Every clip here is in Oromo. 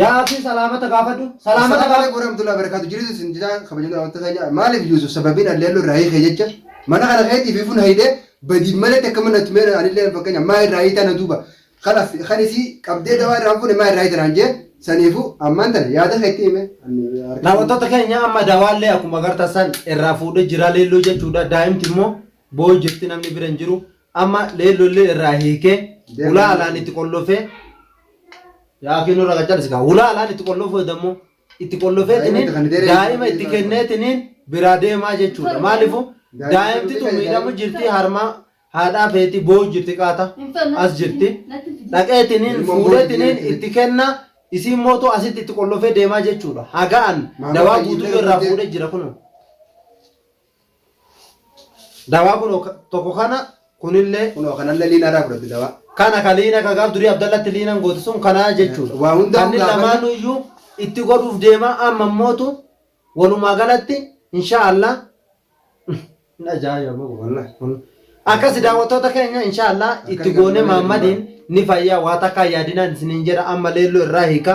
Yaa absii salaamata gaafadhu. Salaamata Salaam gaafadhu. alaikum warahmatullahi wabarakatuh. Jiritu isin jira kabajamtoota daawwattoota keenya. Maaliif Yuusuf sababiin alleelloo irraa hiikee jecha mana kana keetii fi fun hayidee badiif malee takka mana tumee anillee fakkeenya maa irraa hiitaa na duuba kan as kan isii qabdee dawaa irraa hin fuune maa irraa hiitan hanjee saniifu ammaan tana yaada keetti hime. Daawwattoota keenya amma dawaallee akkuma agartan san irraa fuudhee jira leelloo jechuudha. Daa'imti immoo Booyi jirti namni bira hin jiru. Amma leellollee irraa hiikee ulaa alaan itti qollofee yaa kiinoo raga calisi kaa ulaa alaan itti qollofuu dammoo itti qollofee Daa'ima tiniin itti kan deebi'e daa'ima itti jechuudha. kennee tiniin biraa deemaa jechuudha. Maalifu Daa'ima daa'imti tun daa'ima miidhamu jirti harmaa haadhaa feeti booyi jirti qaata as jirti. Dhaqee tiniin Ilmoo fuudhee booyi tiniin jirti. itti kenna isiin mootu asitti itti qollofee deemaa jechuudha. Hagaan Maamota dawaa guutuu hiilee irraa fuudhee- fuudhee jira kunoo. Dawaa kun tokko kana kunillee kun kanallee liina irraa fudhatti dawaa. Kana ka liina ka gaaf durii Abdallatti liinan goote sun kanaa jechuudha. Waa hundaa Kanni hundaa lamaan kanni- iyyuu itti godhuuf deema amma mootu walumaa galatti insha Allah hin ajaa'iba boqo wallahi. Kun- Akkasi daawwattoota keenya insha Allah itti Akkasi goone kan Maammadiin ni fayyaa waa takkaa yaadinaan isiniin jedha amma leelloo irraa hiika.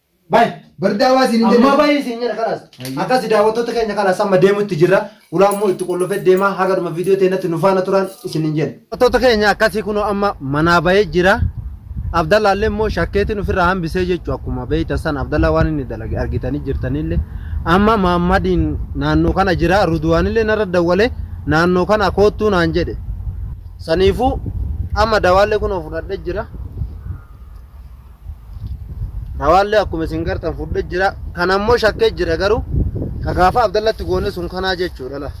Baay. Bardaa waa siin Ammaa baay'ee siin jedha kanas. Akkas daawwattoota keenya kanas amma deemutti jirra. Ulaa immoo itti qollofee deemaa haga dhuma viidiyoo teenyatti nu faana turaan isin hin jenna. Daawwattoota keenya akkasii kunoo amma manaa bahee jira. Abdallaa illee immoo shakkeetiin ofirraa hambisee jechuudha akkuma beektan san Abdallaa waan inni dalage argitanii jirtanillee amma Maammadiin naannoo kana jira Ruduwaanillee narra dawwalee naannoo kana koottuu naan jedhe saniifuu amma dawaallee kunoo fudhadhee jira. Rawaallee akkuma isin gartan fudhe jira. Kan ammoo shakkee jira garuu ka gaafa Abdallatti goone sun kanaa jechuudha la.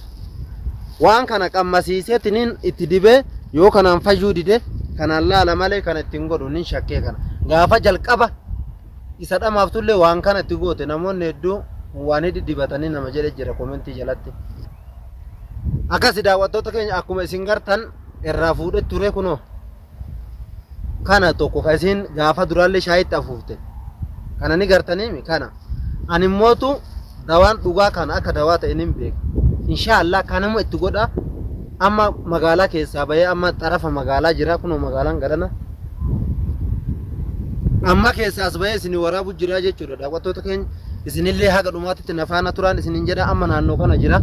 Waan kana qammasiiseeti nin itti dibee yoo kanaan fayyuu dide kanaan laala malee kana ittiin godhu nin shakkee kana. Gaafa jalqaba isa dhamaaftuullee waan kana itti goote namoonni hedduu waan hidhi dibatanii nama jedhe jira komentii jalatti. Akkasi daawwattoota keenya akkuma isin gartan irraa fuudhe ture kunoo. kana tokko ka isiin gaafa duraallee shaayitti afuufte kana ni gartaniimi kana ani mootu dawaan dhugaa kana akka dawaa ta'e nin beeka inshaa Allah kanuma itti godha amma magaalaa keessaa bahee amma xarafa magaalaa jira kunoo magaalaan garana amma keessaas bahee isin waraabu jira jechuudha daawwattoota keenya isinillee haga dhumaatitti na faana turaan isinin jedha amma naannoo kana jira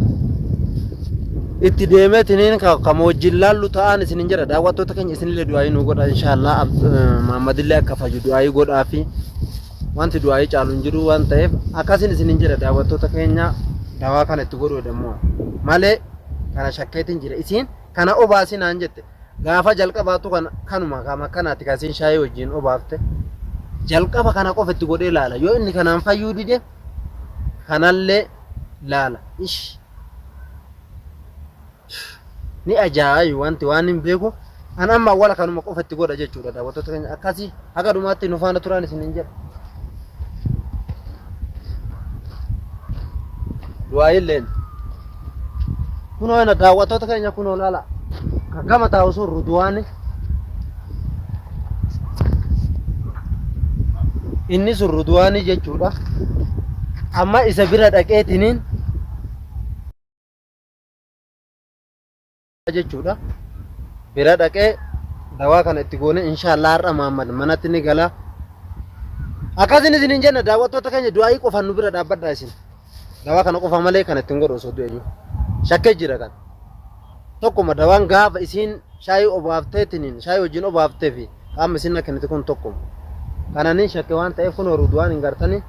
itti deemee tiniin kama wajjin laallu ta'an isinin jedha daawwattoota keenya isinillee du'aayii nu godha inshaallah maammadillee akka fayyu du'aayii godhaa fi wanti du'aayii caalu hin jiru waan ta'eef akkasin isinin jedha daawwattoota keenya dawaa kana itti godhuudha immoo malee kana shakkeetiin jira isiin kana obaasinaan jette Gaafa jalqabaatu kan kanuma kaama akkanaati kan isin shaayii wajjin obaafte jalqaba kana qofa itti godhee laala yoo inni kanaan fayyuu dide kanallee laala ish ni ajaa'iba wanti waan hin beeku an amma awwala kanuma qofa itti godha jechuudha daawwattoota keenya akkasii Haga dhumaatti nu faana turaan isiniin jedha. Du'aayilleen. Kunoo ina daawwattoota keenya kunoo laala. Kan gama taa'u sun Ruduwaani. Inni sun Ruduwaani jechuudha. Amma isa bira dhaqeetiniin jechuudha. Bira dhaqee dawaa kana itti goone inshaallah har'a Muhammad manatti ni gala. Akkasin isin hin jenna daawwattoota keenya du'aayii qofaan nu bira dhaabbadha isin. Dawaa kana qofa malee kan ittiin godhu osoo du'e jiru. Shakkee jira kan. Tokkuma dawaan gaafa isiin shaayii obaafteetiniin shaayii wajjin obaaftee fi qaama isin na kennite kun tokkuma. Kananiin shakke waan ta'eef kun horuuduwaan hin gartanii.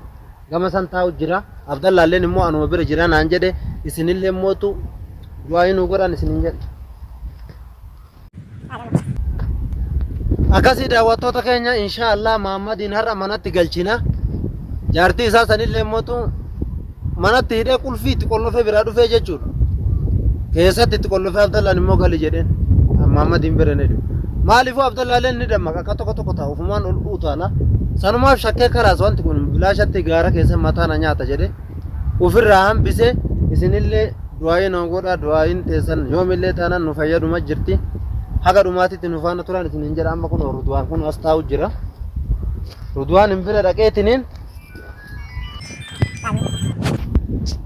Gama san taa'u jira. Abdallaalleen immoo anuma bira jira naan jedhe. Isinillee mootu du'aayii nuu godhaan isiniin jedhe. Akkasii daawwattoota keenya inshaa Allah Maammadiin har'a manatti galchina. Jaartii isaa sanillee mootu manatti hidhee qulfii itti qollofee biraa dhufee jechuudha. Keessatti itti qollofee Abdallaan immoo gali jedheen. Maammadiin bira ni dhufe. Maaliifuu Abdallaalleen ni dammaqe. Akka tokko tokko ta'a ofumaan ol utaala. Sanumaaf shakkee kalaas wanti kun bilaashatti gaara keessa mataa na nyaata jedhe ofirraa hambise isinillee du'aayii noo godha du'aayiin teessan yoomillee taanaan nu fayyaduma jirti haga dhumaatitti nu faana turaan isin hin jedha amma kun ruduwaan kun as taa'u jira ruduwaan hin bira dhaqeetiniin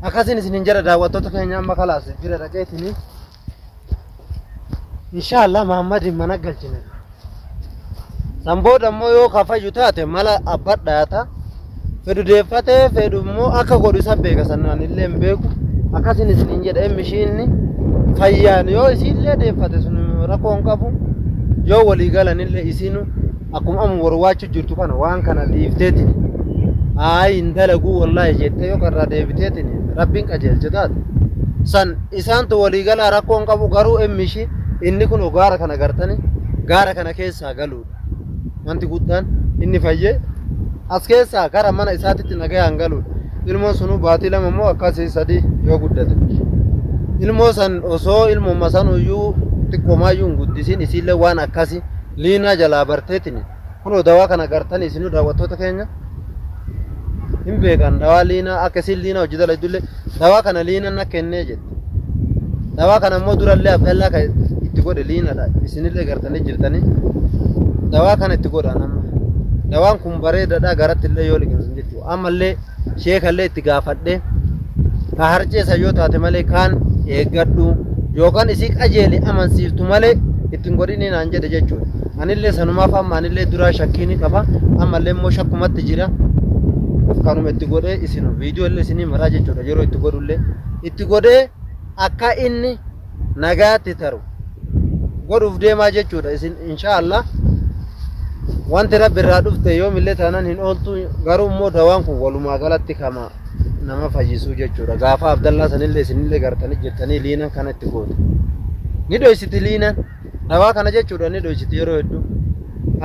akkasiin isin hin jedha daawwattoota keenya amma kalaas bira dhaqeetiniin Inshaallah Mahammadiin mana galchine. San booda immoo yoo ka fayyu taate mala abba dhaata. Fedhu deeffatee fedhu immoo akka godhu isa beeka sanaan illee hin beeku. Akkasin isiniin jedha emmi ishiinni fayyaan yoo isiillee deeffate sun rakkoo hin qabu. Yoo walii galan illee isinu akkuma amma warwaachu jirtu kana waan kana dhiifteetiin ayi hin dalaguu wallaahi jettee yoo irraa deebiteetiin rabbiin qajeelche taate san isaantu walii galaa rakkoo hin qabu garuu emmi ishii inni kun gaara kana gartanii gaara kana keessaa galuudha wanti guddaan inni fayyee as keessaa gara mana isaatitti nagayaan galuudha ilmoon sunuu baatii lama immoo akkasii sadii yoo guddate ilmoo san osoo ilmoo masanuyyuu xiqqomaayyuu hin guddisiin isiillee waan akkasii Liinaa jalaa barteetini kunoo dawaa kana gartani isinuu daawwattoota keenya hin beekan dawaa liinaa akka isin liinaa hojii dalaydullee dawaa kana liinaan na kennee jette dawaa kana immoo durallee abdallaa kan itti godhe liinaadha isinillee gartanii jirtanii dawaa kana itti godhaan amma dawaan kun bareedadha garatti illee yoo liqimsan jechuudha ammallee sheekallee itti gaafadhe ka harceessa yoo taate malee kaan eeggadhu yookaan isii qajeele amansiiftu malee ittiin godhinii naan jedhe jechuudha. Anillee sanumaaf amma anillee duraa shakkii ni qaba ammallee immoo shakkumatti jira. Kanuma itti godhee isin viidiyoo illee isinii maraa jechuudha yeroo itti godhullee itti godhee akka inni nagaatti taru godhuuf deemaa jechuudha isin insha Allah wanti rabbi irraa dhufte yoomillee taanan hin ooltu garuu immoo dawaan kun walumaa galatti kama nama fayyisuu jechuudha gaafa abdallaa sanillee isinillee gartanii jirtanii liinan kana itti goote ni dhoysiti liinan dawaa kana jechuudha ni dhoysiti yeroo hedduu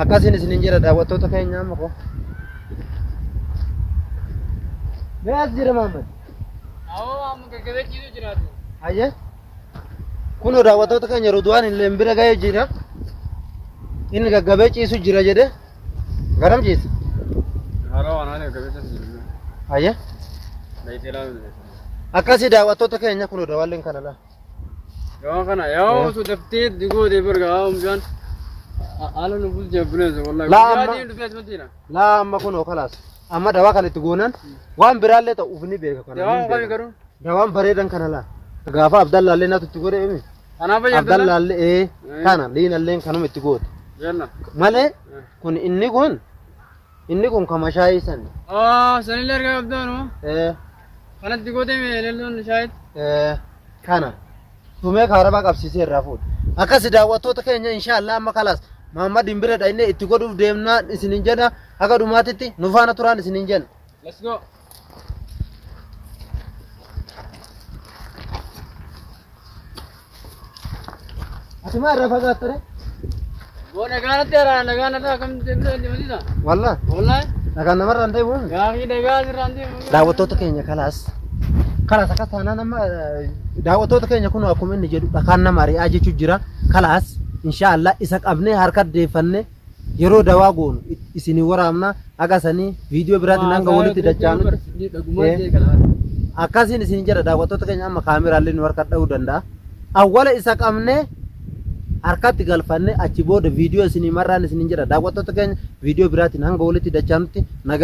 akkasiin isinin jedha daawwattoota keenya amma koo. Mee as jira Maammed. Hayyee. Kunoo daawwattoota keenya Ruduwaan illee bira ga'ee jira. Inni gaggabee ciisu jira jedhee garam ciisa? Hayyee. Akkasii daawwattoota keenya kunoo daawwalleen kana laa. Yoo kana yoo su daftee digoo dee barga haa umjaan haala nu bulchee buleessa wallahi. Laa, Guyyaa amma- diin dhufee asumatti jira. laa amma kunoo kalaas amma dawaa kan itti goonan waan biraallee ta'u uf ni beeka kana Dawaan kami garuu? dawaan bareedan kana laa gaafa abdallaallee natu itti godhe imi Kanaaf fayyadu. abdallaallee ee kana liinalleen kanuma itti goote Jenna. malee kun inni kun inni kun kama shaayii san Ah, sanillee argaa qabdaanu. ee Kanatti gootee mee lelloon shaayit. ee kana Tumee kaarabaa qabsiisee irraa fuudhe. Akkasi daawwattoota keenya inshaa Allah amma kalaas Mahammadiin bira dhaqnee itti godhuuf deemnaan isinin jenna haga dhumaatitti nu faana turaan isinin jenna. Let's go. Ati maa irraa fagaattare? Boo nagaa natti araara nagaa nataa akkamitti deebisuu hin deemsisa? Wallah. Wallahi. Nagaan namarraa hin deebi'u. Gaafii nagaa asirraa hin deemu. Daawwattoota keenya kalaas. Kalaas akka taanaan amma eh, daawwattoota keenya kun akkuma inni jedhu dhakaan nama ari'aa jechuu jira. Kalaas inshaallah isa qabnee harka deeffannee yeroo dawaa goonu isinii waraabna. Haga sanii viidiyoo biraatiin hanga walitti dachaanutti akkasiin isin jedha daawwattoota keenya amma kaameraallee nu harka dha'uu danda'a. Awwala isa qabnee harkatti galfanne achi booda viidiyoo isinii marraan isin jedha daawwattoota keenya viidiyoo biraatiin hanga walitti dachaanutti nagaa.